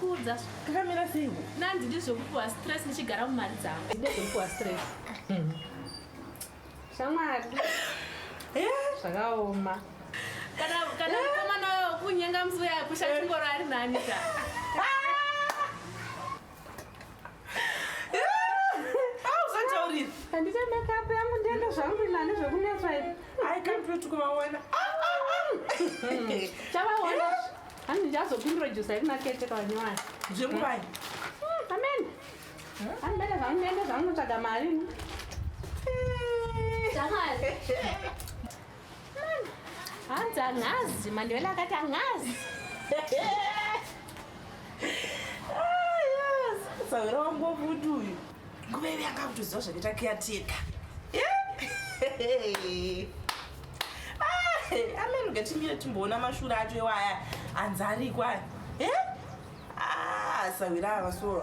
kuudza kakamira sei nanzi ndizvokupuwa stress ndichigara mumari dzangu ndezvokupuwa stress hmm. shamwari eh? zvakaoma kana kana eh? mukomana wayo kunyenga musi uya kusha chingoro ari nani ka handita makeup yangu ndienda zvangu inani zvekunetswa ivi i can't wait kuvaona chavaona hanzi ndichazopintrodusa yekunakete kavanyowani zvekuvai amen handibata zvangu ndiende zvangu tsvaga mari hanzi angazi mandevela akati angazi sahwira wangu wakuti uyu nguva ivi anga kutoziva zvakaita kiyateka amene ngatimire timboona mashura acho iwaya anzi ariko aya ah, sahwira ava soo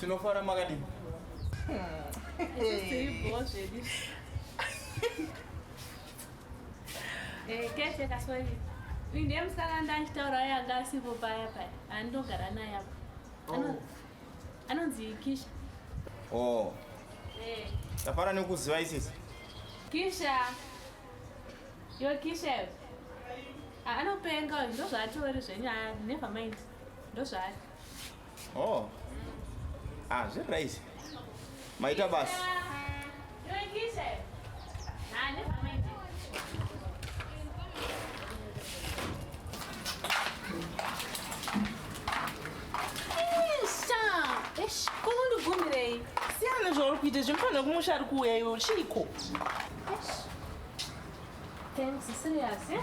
Tinofara makadini? Eh, kete kaswahili. Uyu ndiye musikana ndanditaura aye anga asipo paya paya. Andogara naye apa. Ano- Oh. Anonzi Kisha. Oh, Eh, tafara nekuziva isisi. Kisha. Yo Kisha. yo. Ah, Anopenga uyu ndozvaatori zvenyu. Ah, never mind. Ndozvaari. Oh. Ah, zviri right. Maita basi. kunondibvumirei siyana zvauri kuita zvimufanira kumusha ari kuuya iwe chiiko Thanks, serious, yeah?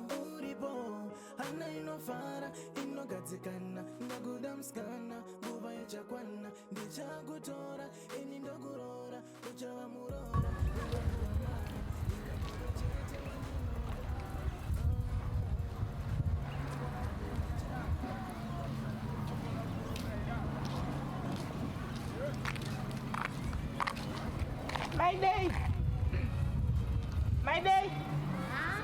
uripo hana inofara inogadzikana ndakuda musikana nguva ichakwana ndichakutora ini ndokuroora uchava muroora My day. My day. Huh?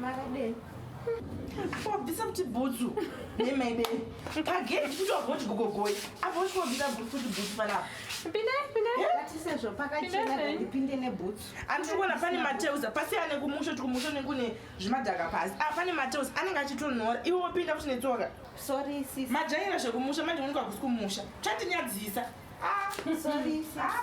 Makadei? Wabvisa kuti bhutsu nemaide pagedhi kuti wagoti gogogoi apo uchi wabvisa kuti bhutsu panapa pindepindesezvo pakachena ndipinde nebhutsu andiri kuona pane mateuza pasiyane kumusho ti kumusho nekune zvimadhaka pasi a ah, pane mateuza anenge achitonhora iwe wopinda kuti netsoka sorry sis majaira zvekumusha manje unonika kusi kumusha chatinyadzisa ah, sorry sis ah,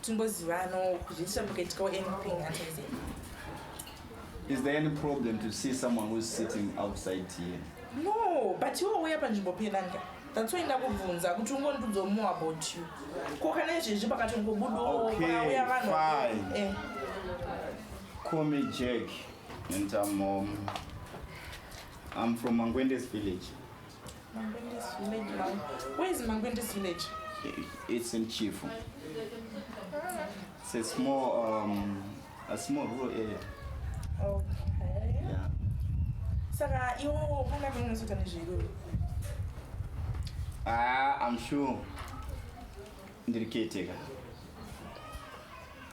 timbozivanawo kuti ndisina mukaitikawo anything hanzi Is there any problem to see someone who's sitting outside here? no but iwe uya panzvimbo penanga that's why ndakubvunza kuti ungondudzawo more about you ko kana izvezvi pakatongobudawo Okay, pakauya vanhu fine. Eh, Call me Jack, and I'm um, I'm from Mangwende's village. Mangwende's village now. Where is Mangwende's village? It's in Chifu. It's a small, um, a small rural area. Okay. Yeah. Saka iwo panga panozoita nezveiko? Ah, I'm sure. Ndiri caretaker.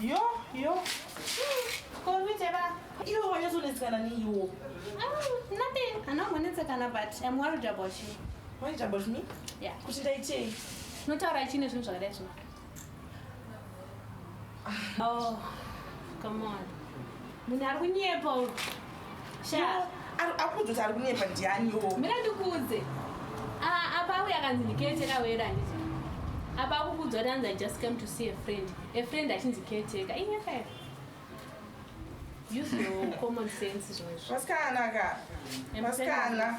Yo, yo. Komite ba. Iwe wanyazonetsekana neiwo. Mm, nothing. Anongonetsekana but I'm worried about you. Worried about me? Yeah. Kuti ndaitei? Unotaura chine zvinhu zvakadai zvino. Ah. Oh, come on. Munhu ari kunyepa uyu. Shaa. Akuudza kuti ari kunyepa ndiani wo. Mira ndikuudze. Ah, apa uya kanzi ndikete kawera handiti. Apa akukuudza kuti anzi I just came to see a friend. A friend achinzi caretaker. Inyepa here? Use your common sense zvimwe. Vasikana ka. Vasikana.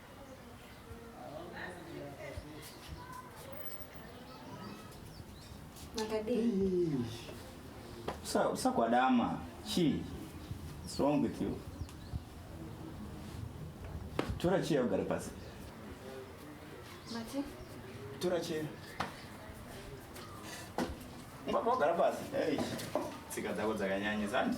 usakwadama chii what's wrong with you tora cheya ugare pasi Mati? tora cheya ungabva wagara pasi hey. tsika dzako dzakanyanyisa handi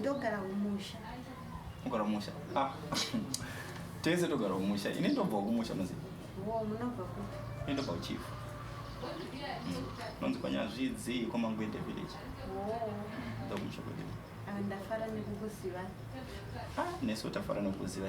ndogara kumusha ogara kumusha ah. tese togara kumusha ini ndobva kumusha muzi munobva kupi ini ndobva kuchifu mm. nonzi kwanyazvidzi kwamangwede village ndokumusha kwede ah, ndafara nekukuziva ah, nesu tafara nekukuziva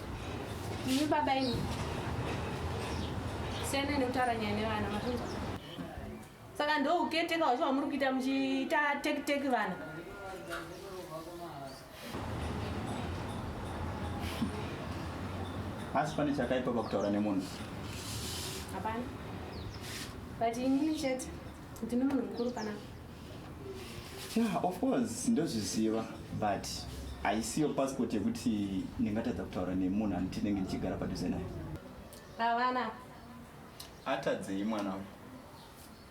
Imi baba imi. Siyana nekutaura nyaya nevana makunzwa. Saka ndo uketeka wacho wamuri kuita muchiita take take vana. Asi pane chakaipa pakutaura nemunhu. Hapana. But ini chete ndine munhu mukuru panapa. yeah of course ndozviziva but haisiyo passport yekuti ndingatadza kutaura nemunhu anoti ndenge ndichigara padhuze naye avana atadzei mwana wangu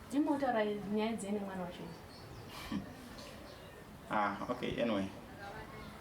ndimotaura nyaya dzei nemwana wacho ah okay anyway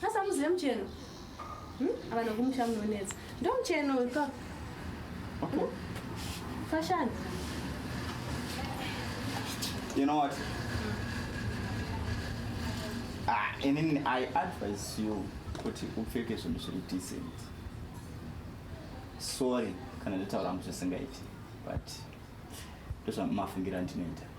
Sasa muzive mucheno. Hmm? Ava nokumusha munonetsa. Ndo mucheno uyu ka. Okay. Hmm? Fashani. You know what? Ah, and then I advise you kuti upfeke zvinhu zviri decent. Sorry kana ndataura muzvisingaiti but ndozvamafungira ndinoita.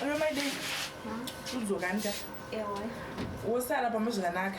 Hello, my day. Udzokani ka? Ewe. Wosara pamwe zvakanaka.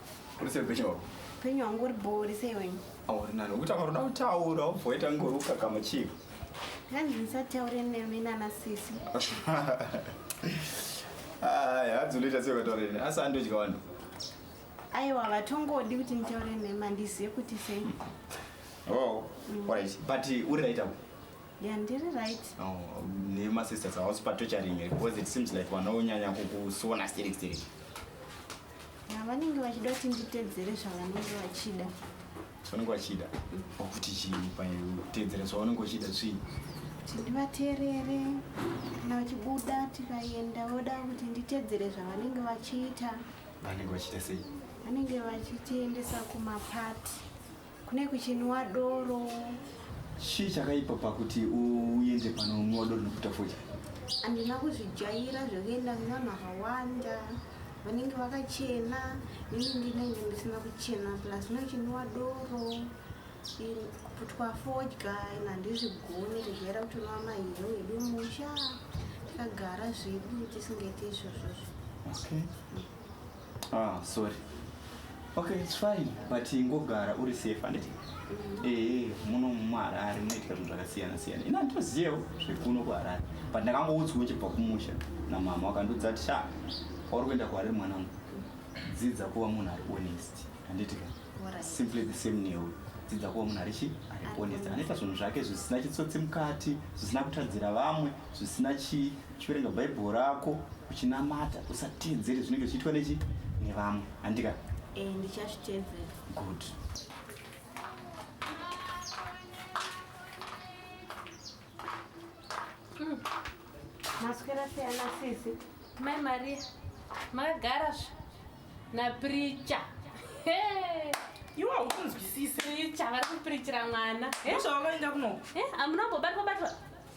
Uri sei upenyu hwako? Upenyu hwangu uri bhori sei wenyu? Auri nani ukuti akaroda kutaura ubvoita ngori ukakama chii? Hanzi ndisataure nemi nana sisi. Aya hanzi unoita sei ukataura neni asi andodya vanhu. Aiwa vatongodi kuti nditaure nemi handizive kuti sei. Oh, mm. alright. But uri right apo? Yeah, ndiri right. Oh, nema sisters are also torturing because it seems like vanonyanya kukusona sterek sterek. vanenge vachida kuti nditedzere zvavanenge vachida zvavanenge vachida kuti chii pautedzera zvavanenge vachida svii ndivateerere kana vachibuda tikaenda voda kuti nditedzere zvavanenge vachiita vanenge vachiita sei vanenge vachitiendesa kumapati kune kuchinwa doro chii chakaipa pakuti uende panonwa doro nekuita foja handina kuzvijaira zvekuenda kuna makawanda vanenge vakachena ini ndinenge ndisina kuchena plus nochinwa doro kuputwa fodya in handizvigoni kujaira kuti unwa mahero wedu musha takagara zvedu tisingaite izvozvozvo okay. mm. Ah, sorry. Okay, it's fine. But ingogara uri safe handiti? Mm. Eh, eh muno muHarare munoitika zvinhu zvakasiyana siyana. Ina nditoziyewo zvekuno kuHarare. But ndakangoudzwa uchibva kumusha namama wakandiudza kuti sha kwauri kuenda kuHarare mwana wangu. Dzidza kuva munhu ari honest. Handiti ka? Simply the same newe. Dzidza kuva munhu ari chi? Ari honest. Anoita zvinhu zvake zvisina chitsotsi mukati, zvisina kutadzira vamwe. zvisina chii uchiverenga bhaibheri rako uchinamata usateedzere zvinenge zvichiitwa nechi nevamwe handika eh, ndichazviteedzera good hmm. maswera siyana sisi mai maria makagara zve napricha iwe haukunzwisisi pricha vari kupirichira mwana zvavakaenda kunoku eh, amunambobatwa batwa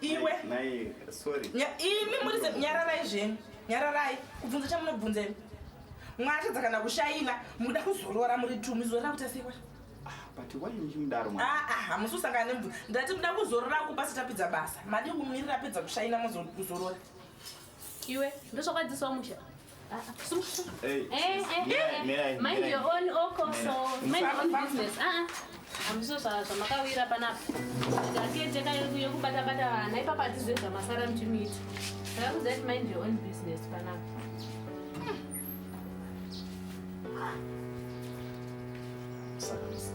iwe imi muri nyararai zvenyu nyararai kubvunza chamunobvunza imi mwatadza kana kushaina mukuda kuzorora muri tumi zorora kuti asewa hamusi usangana nemvura ndati muda kuzorora kupasi tapedza basa madi kumirira apedza kushaina mozorora iwe ndosvakwadzisawo musha Hey, eh, eh, yeah, eh, eh. mind your own oko oh, so mind your own business ah amuso ah. zvamakawira panapa ndakete yekubata bata vana ipapa atizive zvamasara mchimiiti saka kuzati mind your own business panapa Thank you.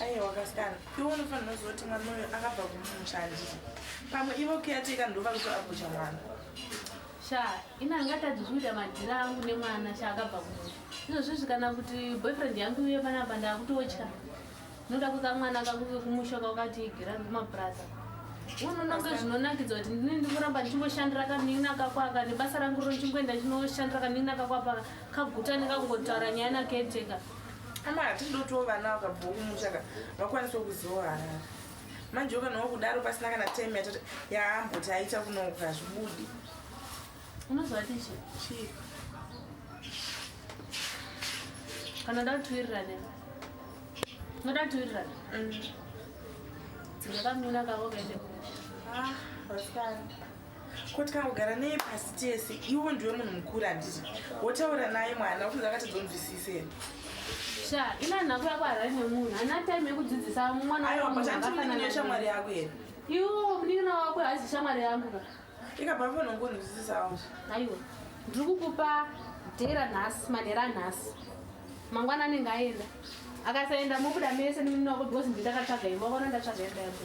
aiwa kasikana iwe unofanira kuziva kuti mwana uyo akabva kumumusha handiti pamwe ivo kuyateka ndova kuto agocha mwana sha ina angatadzi zvikuita madhira angu nemwana sha akabva kumusha izvozvizvi kana kuti boyfriend yangu iye panapa ndakutotya ndinoda kuka mwana kakuke kumusha kwakati igira kumapuraza unononge zvinonakidza kuti ndini ndikuramba ndichingoshandira kanin'ina kakwaka nebasa rangu ro ndichingoenda ndichinoshandira kanin'ina kakwapaka kaguta nekakungotaura nyaya naketeka ka. ama hatidi dotiwo vana vakabvawo kumusha ka vakwanisawo kuzivawo harare manje ukanawo kudaro pasina kana time yatati yaamboti aita kunouka hazvibudi unozovati chi chii kana nda kutiwirirane unoda kutiwirirane mm. dzinga kamina kavo kaende kumusha ah, ko tikangogara neye pasi tese iwo ndiwe munhu mukuru handiti wotaura naye mwana ukunza akatadzonzwisise here sha ina nhako yako harari nemunhu hana time yekudzidzisa mwanaaaaaa shamwari yako here iwo munin'ina wako haizi shamwari yangu ka ikabva fanongonzwisisawo aiwa ndiri kukupa dhera nhasi manhera anhasi mangwana anenge aenda akasaenda mobuda mese nemunini wako because ndindakatsvaga imba vona ndatsvaga imba yako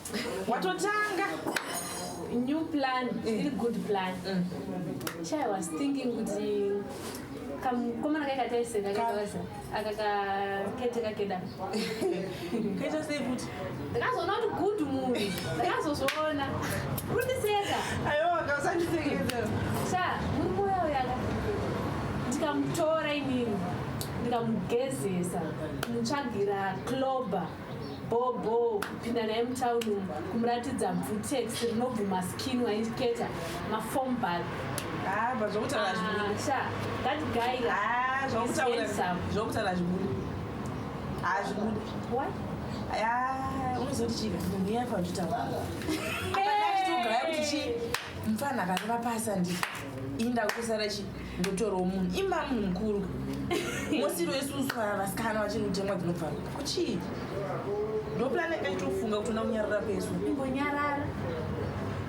watotanga new plan still mm. good plan mm. chai was thinking kuti kamukomana kai kataiseka kakaza akakakete kakeda kaita sei kuti ndakazoona kuti good munhu ndakazozviona kundiseka aiwa kausandisekeza sa murume uya uyaka ndikamutora inini ndikamugezesa mutsvagira clober bhobho kupinda naye mutown umu kumuratidza bvutex rinobvuma skin waiketa mafombal ah, zvokutaura zvibudi unozoti chii munhu iya pautauraakuti chii mfana akareva pasa ndi inda kusara chii ndotorwa munhu imba munhu mukuru mosiro yesusu vasikana vachiri kutemwa dzinobva kuchii ndopulani yanga ichitofunga kuti ona kunyarara kwesu ingonyarara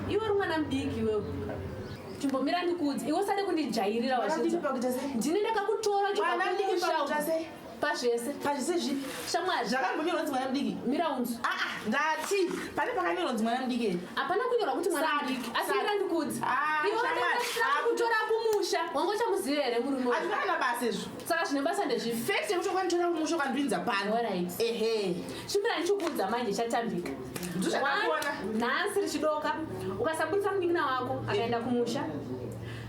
iwe uri mwana mudiki iwewe chimbomira ndikuudzi iwe usade kundijairira wazvizva ndine ndakakutora chikuusha pazvese pazvese zvipi shamwari zvakambonyorwa kunzi mwana mudiki mira unzi aa ah, ah, ndati pane pakanyorwa kunzi mwana mudiki ere hapana kunyorwa kuti mwana mudiki asi mira ndikudzi ah, iwaakutora kumusha wanga uchamuziva here murume hazvina kana basa izvo saka zvine basa ndezvipi fekt yekuti ukanditora kumusha ukandipinza pano ehe chimira ndichikuudza manje chatambika ndozvakaona nhasi richidoka ukasabudisa munin'ina wako akaenda kumusha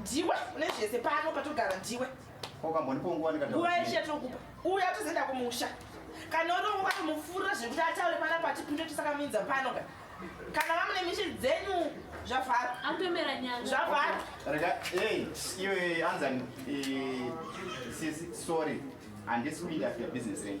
ndiwe une zvese pano patogara ndiwe nguva yeshe yatinokupa uya tozoenda kumusha kana uri nguva tomufurira zvekuti ataure pana pati pinde tisakamuinza pano ka kana vamune mishi dzenyu zvavharwa anotomera nyanga zvavharwa rega ei iwe anzani sisi sorry handisi kuinda after business renyu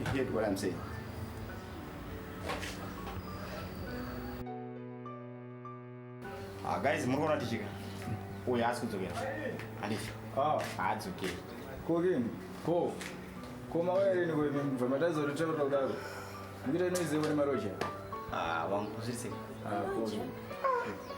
You get what I'm saying? Ah, guys, muri kuona tichika. Uyu haasi kudzokera. Handifi. Ah, haadzokeri. Ko king. Ko. Ko mauya rini ko imi mva matadza kuti taura kudaro. Ndikuita inoiziva ne maroja. Ah, wangu zvirisei. Ah, ko.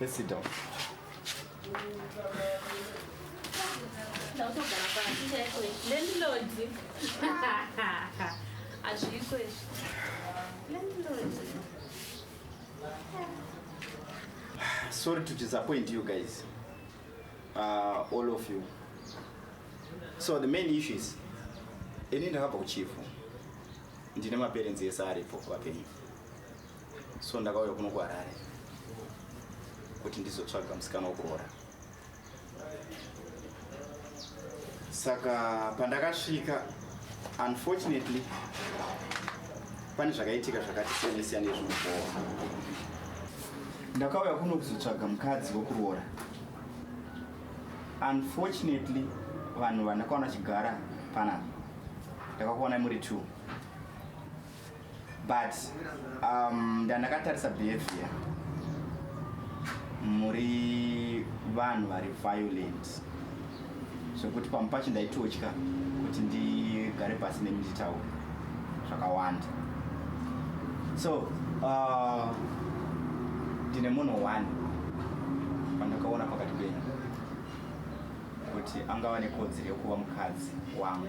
Let's sit down. Sorry to disappoint you guys. Uh, all of you. So the main issue is ini ndakabva kuchifu ndine maperenzi ese aripo vapenyu so ndakauya kuno kuharare kuti ndizotsvaga musikana wekuroora saka pandakasvika unfortunately pane zvakaitika zvakati siyane siyane zvinobowa ndakauya kuno kuzotsvaga mukadzi wekuroora unfortunately vanhu vandakaona chigara panapa ndakakuonai muri two but um, ndandakatarisa behavior muri vanhu vari violent zvekuti pamwe pacho ndaitotya kuti ndigare pasi nemi nditaura zvakawanda so uh, ndine munhu one pandakaona pakati penyu kuti angava nekodzero yekuva mukadzi wangu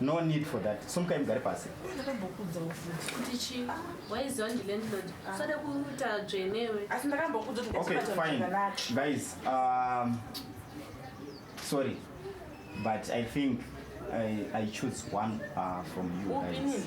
No need for that. Sumukai mugare pasi. Ndakambokuudza ufuti kuti chii? Waiziva ndi landlord. Ah. Usade kuita dzvenewe. Asi ndakambokuudza kuti Okay, fine. Guys, um sorry. But I think I I choose one uh, from you guys.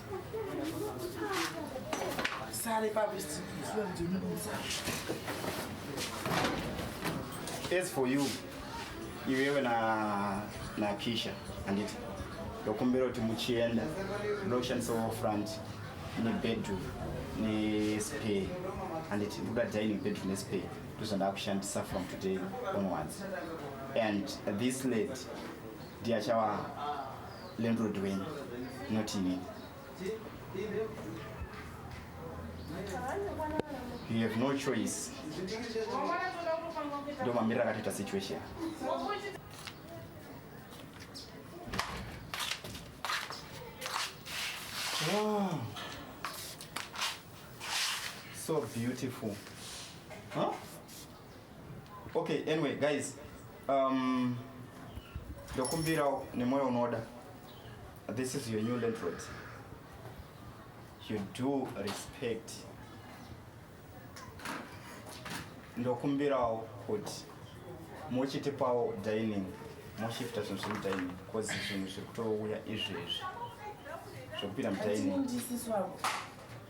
As for you, iwewe na na Kisha anditi ndokumbira kuti muchienda ndoshandisawo front nebedroom nespare anditi ndoda dining bedroom nespare ndozvandakushandisa from today onwards and this lady ndiyachawa landlord wenyu not inini you have no choice ndo mamiriro akatoita situation wow. so beautiful huh? Okay, anyway guys, um, ndokumbirawo nemoyo unoda this is your new landlord you do respect ndokumbirawo kuti muchitipawo dining moshifta zvinhu zviri mudining bcause zvinhu zviri kutouya izvezvi zvekupinda mudining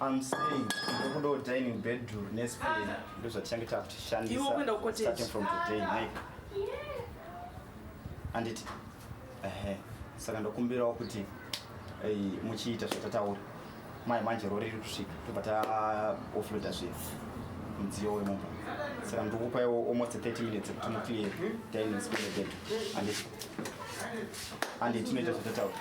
I'm saying ndokudo dining bedroom nespace ndozvatichange takutishandisa starting from today Mike anditi ehe saka ndokumbirawo kuti eh, muchiita zvatataura mai manje rori riri kusvika tobva taofloda zvinhu mudziyo wemumba saka ndokupaiwo almost 30 minutes kuti muclear dining space bedroom anditi anditi tinoita zvatataura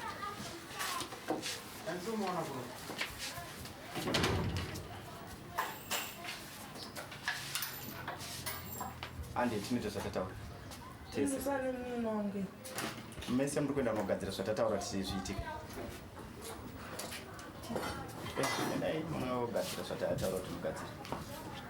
ande tinoita zvatataura tese mese muri kuenda kunogadzira zvatataura tise zviitike endai munogadzira zvatataura kuti mugadzire